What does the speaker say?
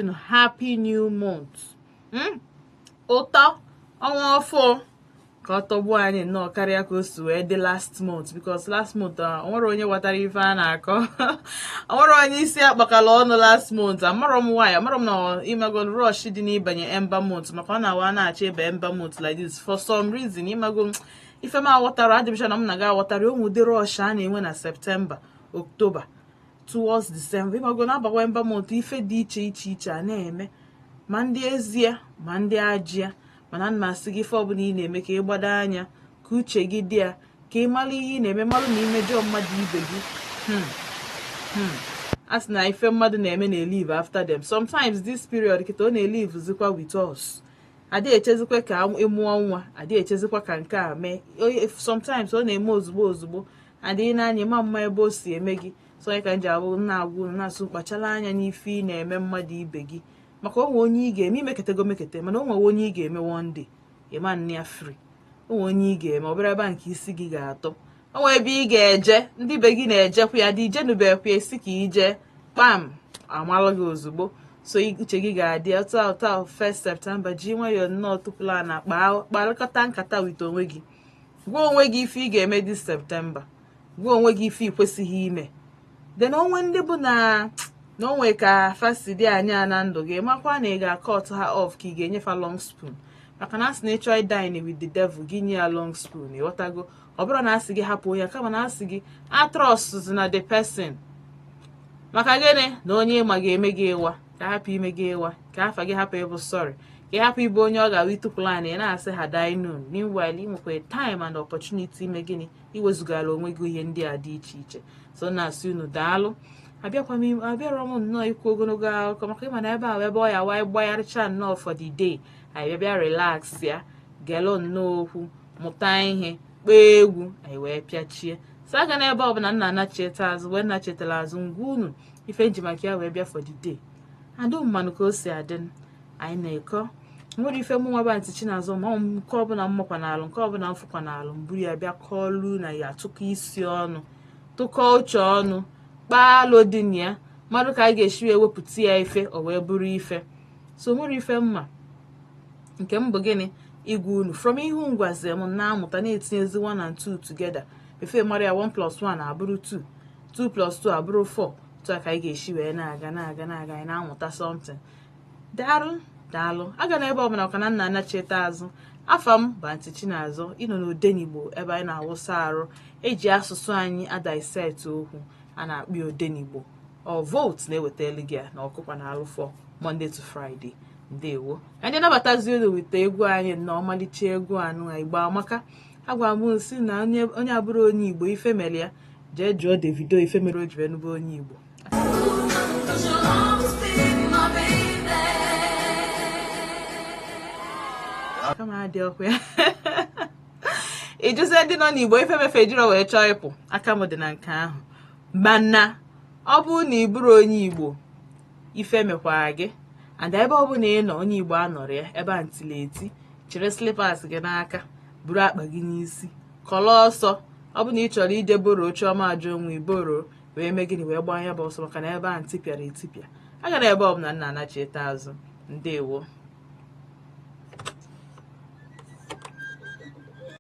unu happy new month hmm? ụtọ ọnwa ọfụụ ka ọ tọgbuo anyị nnọọ karịa ka o si wee dị last month because last month ah, o nwere onye ghọtara ife a na-akọ o nwere onye isi akpakala ọnụ last month amarọ m why amarọ m na imago rush dị n'ịbanye ember month maka ọ na-awụ a na-achọ ịba ember month like this for some reason imago ife m aghọtarọ adị m sure na mụ na gị aghọtarọ o nwee ụdị rush a na-enwe na September October towards December ịmago a na-abawa ember month ife dị iche iche iche a na-eme ma ndị ezie ma ndị ajịa mana m na-asị gị ife ọbụla ị na-eme ka ị gbado anya ka uche gị dị ya ka ị mara ihe ị na-eme mara na i mejọọ mmadụ ibe gị hmm, hmm. a sị na ife mmadụ na-eme na-elive after them sometimes this period kịta ọ na-elivezikwa with us adịghị echezikwa ka ị mụọ nwa adịghị echezikwa ka nke a mee sometimes ọ na-eme ozugbo ozugbo adịghị n'anya ị ma-ama ebe o si eme gị so ọ ya ka m ji abịa na-agwa unu na-asị kpachara anya n'ife ị na-eme mmadụ ibe gị maka o nwee onye ị ga-eme i meketego mekete mana o nwee onye ị ga-eme one day ị ma-eme ya free o nwee onye ị ga-eme ọ bụrụ ebe a ka isi gị ga-atọ o nwee ebe ị ga-eje ndị be gị na-ejekwa ya dị ijenubekwa a sị ka i je kpam a malụ gị ozugbo so uche gị ga-adị otu a otu a 1 September ji nwayọọ nnọọ tukwulu ana kpaa kparịkọta nkata with onwe gị gwa onwe gị ife ị ga-eme this September gwa onwe gị ife ị kwesịghị ime then o nwee ndị bụ na na o nwee ka fa si dị anya na ndụ gị makwa na ị ga-acut ha off ka ị ga-enye fa long spoon maka na a sị na ị chọọ idine with the devil gị nye ya long spoon ịghọtago ọ bụrọ na a sị gị hapụ onye kama a na-asị gị atrustzina the person maka gịnị na onye ị ma ga-eme gị ịwa ka a hapụ ime gị ịwa ka afa gị hapụ ịbụ sorry ka ị hapụ ịbụ onye ọ ga-awụ i tukwulu ana ị na-asị had I known meanwhile ị nwekwara time and opportunity ime gịnị iwezugara onwe gị ihe ndị a dị iche iche so na-asị unu daalụ abịakwa m abịara m nnọọ ikwu ogologo akụkọ maka ị ma na ebe ahụ ebe ọ ya wee gbagharịcha nnọọ for the day anyị bịa bịa relaxia gelụ nnọọ okwu mụta ihe kpee egwu anyị wee pịachie so agana ebe ọbụla nna anacheta azụ wee nachetara azụ ngwa unu ife e ji maka ya wee bịa for the day adụ mmanụ ka o si adị anyị na-akọ o nwere ife mụ nwaba ntị chinazọ ma nke ọbụla m makwanalụ nke ọbụla m fụkwanalụ m buru ya bịa kọọlụ unu anyị atụkọ isi ọnụ tụkọ uche ọnụ kpaa alo dị na ya malụ ka a ga-esi wee wepụta ya ife o wee bụrụ ife so o nwerọ ife m ma nke m bụ gịnị ịgwa unu from ife unu gwazi m na-amụta na-etinyezi 1 and 2 together before ị mara ya 1 plus 1 abụrụ 2 2 plus 2 abụrụ 4 otu a ka anyị ga-esi wee na-aga na-aga na-aga anyị na-amụta something daalụ daalụ agana ebe ọbụla maka na m na-anachite azụ afa m bụ Aunty Chinazọ ị nọ n'Odenigbo ebe anyị na-awụsa arụ eji asụsụ anyị a-dissect okwu a na-akpọ Odenigbo ọ vootu na-ewetalụ gị ya na ọkụkwa na alụfọ Monday to Friday ndewo ka ndị nabatazi olu weta egwu anyị na ọmalịcha egwu ahụ Igbo amaka agwa m sị na onye abụrọ onye Igbo ife mere ya jee jụọ Davido ife mere o ji wee nụba onye Igbo kama adị ọkụ ya ị jụzie ndị nọ n'Igbo ife me fe ejirọ wee chọọ ịpụ aka m dị na nke ahụ mana ọ bụrụ na ị bụrọ onye Igbo ife mekwara gị and ebe ọ bụla ị nọ onye Igbo anọrọ ya ebe ahụ tili eti chịrị slippers gị n'aka buru akpa gị n'isi kọlọ ọsọ ọ bụ na ị chọrọ ije borrow Chioma Ajunwa ị borrow wee mee gịnị wee gbaa ya bụ ọsọ maka na ebe ahụ tipịara etipịa agana ebe ọbụla m na-anachite azụ ndewo